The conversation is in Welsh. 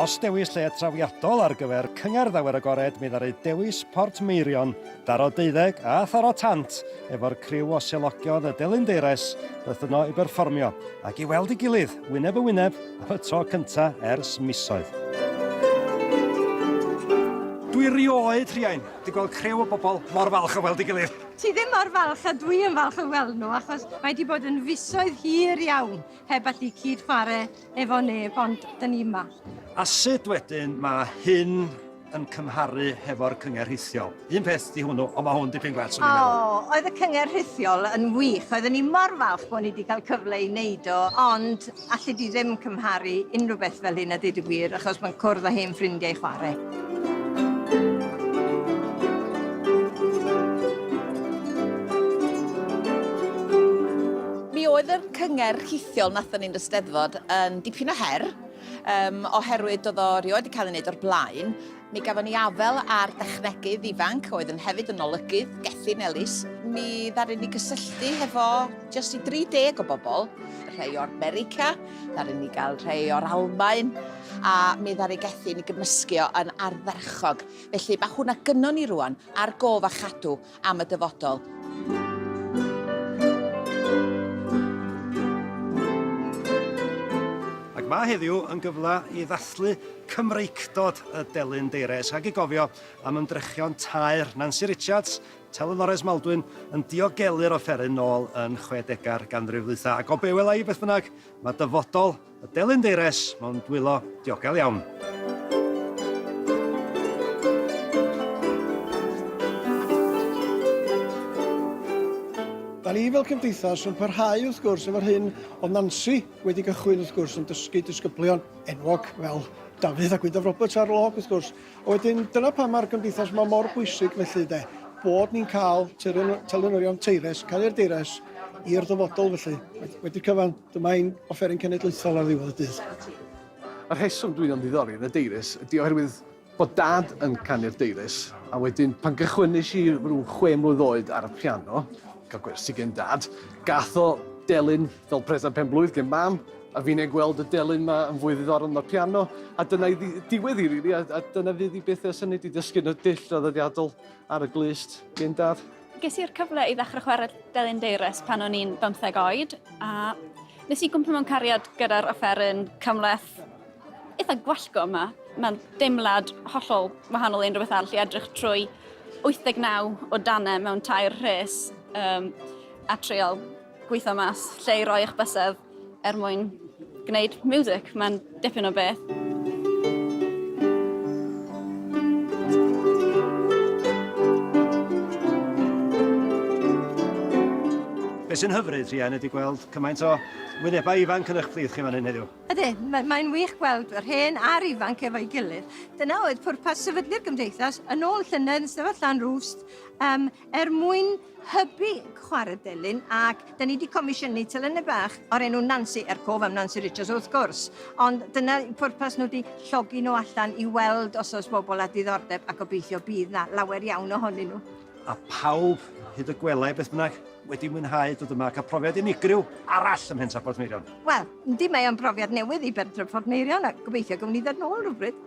Os dewis lle trawiadol ar gyfer Cyngerdd Awyr Agored mi ddaru dewis Port Meirion, Daro Deuddeg a Tharo Tant efo'r criw o selogion y Delyn Deires beth yno i berfformio ac i weld ei gilydd wyneb yn wyneb am y tro cynta ers misoedd. Dwi rioed, Rhiain, 'di gweld criw o bobl mor falch o weld ei gilydd. Ti ddim mor falch a dwi yn falch o weld nhw achos mae 'di bod yn fisoedd hir iawn heb allu cyd chwarae efo neb ond dyn ni yma. A sut wedyn mae hyn yn cymharu hefo'r cyngerdd rhithiol? Un peth 'di hwnnw ond mae hwn dipyn gwell swn i'n meddwl. O, oedd y cyngerdd rhithiol yn wych, oedden ni mor falch bod ni 'di cael cyfle i neud o ond Alli di ddim cymharu unrhyw beth fel hyn a dweud y gwir achos mae'n cwrdd â hen ffrindiau chwarae. oedd y cyngerdd rhithiol nathon ni'n Eisteddfod yn dipyn o her, um, oherwydd oedd o rioed wedi cael ei wneud o'r blaen, Mi gafon ni afael ar dechnegydd ifanc oedd yn hefyd yn olygydd, Gethin Ellis. Mi ddaru ni gysylltu hefo jyst i 30 o bobl, rhai o'r America, ddaru ni gael rhai o'r Almaen, a mi ddaru Gethin i gymysgu o yn ardderchog. Felly mae hwnna gynnon ni rŵan ar gof a chadw. am y dyfodol. Ac mae heddiw yn gyfle i ddathlu Cymreictod y Delyn Deires rhag i gofio am ymdrechion taer Nancy Richards, Telynores Maldwyn, yn diogelu'r offeryn nôl yn chwedegau'r ganrif ddwytha. Ac o be wela i beth bynnag, mae dyfodol Y delyn deires mewn dwylo diogel iawn. Da ni fel cymdeithas yn parhau wrth gwrs efo'r hyn o Nancy wedi gychwyn wrth gwrs yn dysgu disgyblion enwog fel Dafydd a Gwyndaf Roberts ar log wrth gwrs. A wedyn dyna pam mae'r gymdeithas yma mor bwysig felly de, bod ni'n cael telynorion teires, cael i'r deires i'r dyfodol felly, wedi cyfan. Dyma ein offeryn cenedlaethol ar ddiwedd y dydd. Y rheswm dwi'n ymddiddori yn y deiris ydy oherwydd bod Dad yn canu'r deiris, a wedyn pan gychwynais i ryw chwe mlwydd oed ar y piano, cael gwersi gen Dad, gath o delyn fel presant penblwydd gen Mam, a fi'n ei gweld y delyn 'ma yn fwy ddiddorol na'r piano, a dyna ei diwedd hi rili, a dyna fydd hi byth ers hynny, 'di dysgu yn y dull draddodiadol ar y glust gen Dad. Ges i'r cyfle i ddechrau chwarae Delyn Deirys pan o'n i'n bymtheg oed, a nes i gwmpa mewn cariad gyda'r offeryn cymhleth eitha gwallgo yma. Mae'n deimlad hollol wahanol i unrhyw beth arall i edrych trwy 89 o danau mewn tair rhes um, a trial gweithio mas lle i roi'ch bysedd. er mwyn gwneud music, mae'n dipyn o beth. Beth sy'n hyfryd, Rhian, ydy gweld cymaint o wynebau ifanc yn eich plith chi fan hyn heddiw. Ydy, mae'n mae wych gweld yr hen a'r ifanc efo'i gilydd. Dyna oedd pwrpas sefydlu'r gymdeithas yn ôl llynedd yn sefyll lan rwst um, er mwyn hybu chwarae delyn ac da ni wedi comisiynu telynau bach o'r enw Nancy, er cof am Nancy Richards wrth gwrs, ond dyna pwrpas nhw wedi llogi nhw allan i weld os oes bobl â diddordeb a gobeithio bydd na lawer iawn ohonyn nhw. A phawb, hyd y gwelai beth bynnag, wedi mwynhau dod yma a cael profiad unigryw arall ym Mhentref Portmeirion. Wel, yndi mae o'n brofiad newydd i Bentref Portmeirion a gobeithio gawn ni ddod nôl rhywbryd.